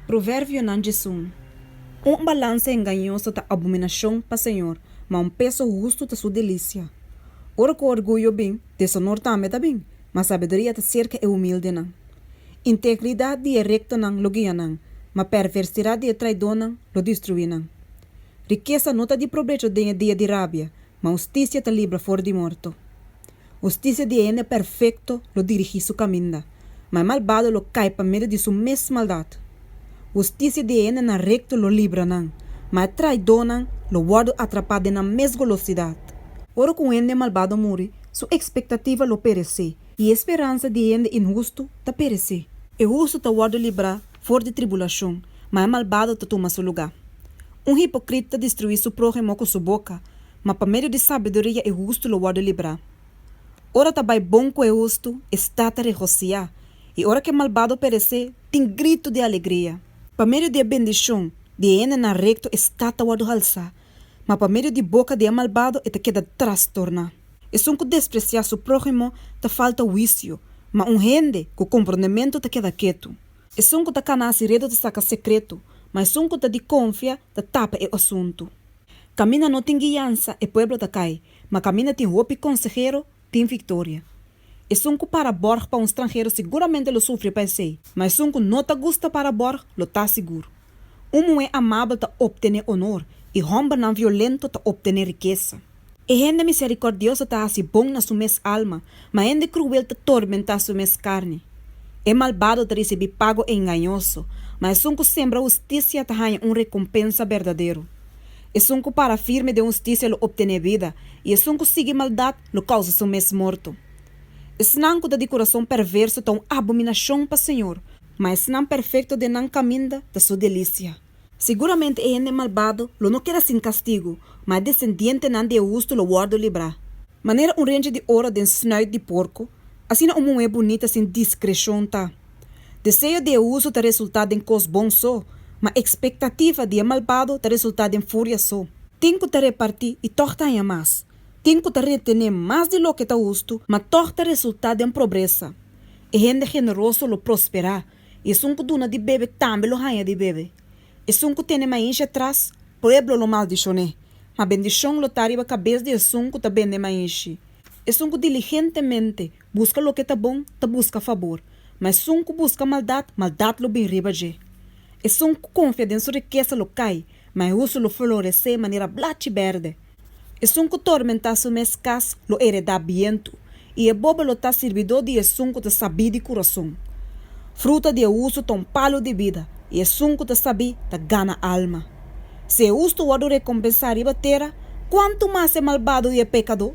Proverbionan dje sun, Un balansa engañoso ta abominacion pa señor, ma un peso hustu ta su delicia. Ora cu orguyo bin, deshonor tambe ta bin, ma sabiduria ta cerca e humildenan. Integridad di e rectonan lo guia nan, ma perversidad di e traidonan lo destrui nan. Rikesa no ta di probecho den e dia di rabia, ma husticia ta libra for di morto. Hustisia di e hende perfekto lo dirigí su kaminda, ma e malbado lo kai pa medio di su mes maldat. Hustisia di e hendenan rekto lo libra nan, ma e traidónan lo wòrdu atrapá den nan mes golosidat. Ora ku un hende malbado muri, su ekspektativa lo peresé, i e speransa di e hende inhustu ta peresé. E hustu ta wòrdu librá for di tribulashon, ma e malbado ta tuma su lugá. Un hipokrita ta destruí su próhimo ku su boka, Ma pa medio di sabiduria e hustu lo wòrdu librá. Ora ta bai bon ku e hustu, e stat ta regosiá, i ora ku e malbado peresé, tin gritu di alegria. Pa medio di e bendishon di e hendenan rekto e stat ta wòrdu halsá, ma pa medio di boka di e malbado e ta keda trastorná. Esun ku despresiá su próhimo ta falta huisio, ma un hende ku komprondementu ta keda ketu. Esun ku ta kana siredo ta saka sekretu, ma esun ku ta di konfia ta tapa e asuntu. Caminda no tin guiansa e pueblo ta cay, ma caminda tin hopi consehero tin victoria. Esun cu para borg pa un stranhero siguramente lo sufri pa esey, ma esun cu no ta gusta para borg lo ta sigur. Un muhe amabel ta optene honor, y hombernan violento ta optene rikesa. E hende misericordioso ta haci bon na su mes alma, Ma hende kruel ta tormentá su mes karni. E malbado ta risibí pago engañoso, ma esun ku sembra hustisia ta haña un rekompensa berdadero. Esun ku para firme den hustisia lo optené bida, i esun ku sigui maldat lo kousa su mes morto. Esnan ku ta di kurason perverso ta un abominashon pa señor, ma esnan perfekto den nan kaminda ta su delisia. Siguramente e hende malbado lo no keda sin kastigu, ma e desendientenan di e hustu lo wòrdu librá. Manera un renchi di oro den snuit di porku, asina un muhé bunita sin diskreshon ta. Deseo di e hustu ta resultá den kos bon so, ma ekspektativa di e malbado ta resultá den furia so. Tin ku ta repartí i tòg ta haña mas, tin ku ta retené mas di loke ta hustu, ma tòg ta resultá den probresa. E hende generoso lo prosperá, I esun ku duna di bebe tambe lo haña di bebe. Esun ku tene mainsha tras pueblo lo maldishoné, ma bendishon lo ta riba kabes di esun ku ta bende mainshi. Esun ku diligentemente buska loke ta bon ta buska fabor, ma esun ku buska maldat, maldat lo bin riba dje. Esun ku konfia den su rikesa lo kai, ma e husu lo floresé manera blachi bèrdè. Esun ku tormentá su mes kas lo eredá bientu, i e bobo lo ta sirbidó di esun ku ta sabí di kurason. Fruta di e hustu ta un palu di bida, i esun ku ta sabí ta gana alma. Si e hustu wòrdu rekompensá riba tera, kuantu mas e malbado i e pekadó!